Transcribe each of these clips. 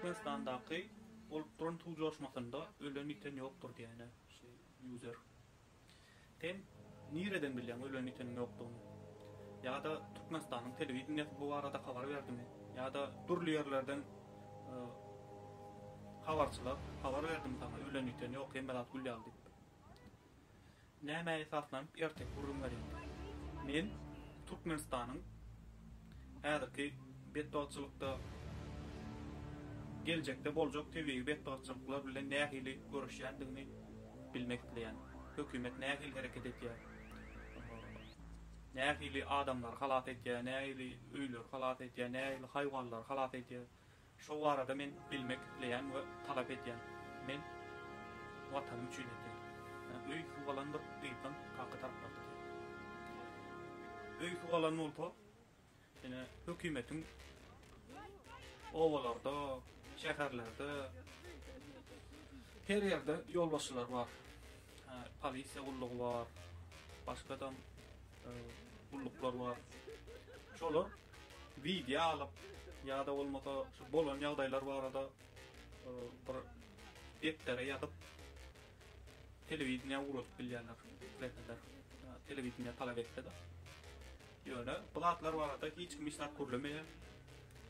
Türkmenistandaky bolup duran suw joşmasynda ölen ýiten ýokdur diýäýne şu user. Sen nireden bilýäň ölen ýiteniň ýokdugyny? Ýa-da Türkmenistanyň telewideniýesi bu barada habar berdimi? Ýa-da dürli ýerlerden habarçylar habar berdimi saňa ölen ýiten ýok hemme zat gül ýaly diýip? Nämä esaslanyp erteki gürrüň berýäň? Men Türkmenistanyň häzirki betbagtçylykda, geljekde boljak tebigy betbagtçylyklar bilen nähili göreşýändigini bilmek isleýän. Hökümet nähili hereket edýär? Nähili adamlary halas edýär? Nähili öýleri halas edýär? Nähili haýwanlary halas edýär? Şo barada men bilmek isleýän we talap edýän. Men Watanym üçin edýän. Öý suw alandyr gyzdan kaka taraplardan. Öý suw alan bolsa ine hökümetiň obalarda, şäherlerde her ýerde ýolbaşçylary bar. Polisiýa gullugy bar. Başgadam gulluklar bar. Şolar wideo alyp ýa-da bolmasa şu bolan ýagdaýlar barada e, bir depdere ýazyp telewideniýä ugradyp bilýärler. Repeler telewideniýä talap etse-de. Ýöne bu zatlar barada hiç kim hiç zat gürlemeýär.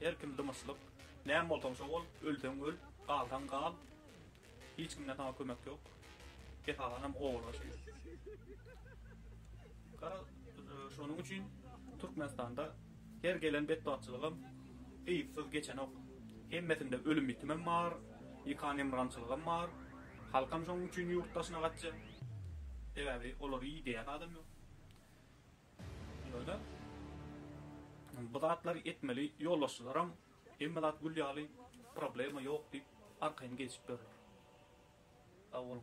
Her kim dymyşlyk. Näme bolsaň şo bol, ölseň öl, galsaň gal. Hiç kimden saňa kömek ýok. Esasanam obalar şeýle. Gara şonuň üçin Türkmenistanda her gelen betbagtçylygam yzsyz geçenok. Hemmesinde ölüm bitimem bar, ýykan-ýymrançylygam bar. Halkam şonuň üçin ýurt daşyna gaçja. Sebäbi olary idäýän adam ýok. Ýöne bu zatlary etmeli ýolbaşçylaram Hemme zat gül ýaly, problema ýok diýip arkaýyn geçip ýörler. Sag boluň.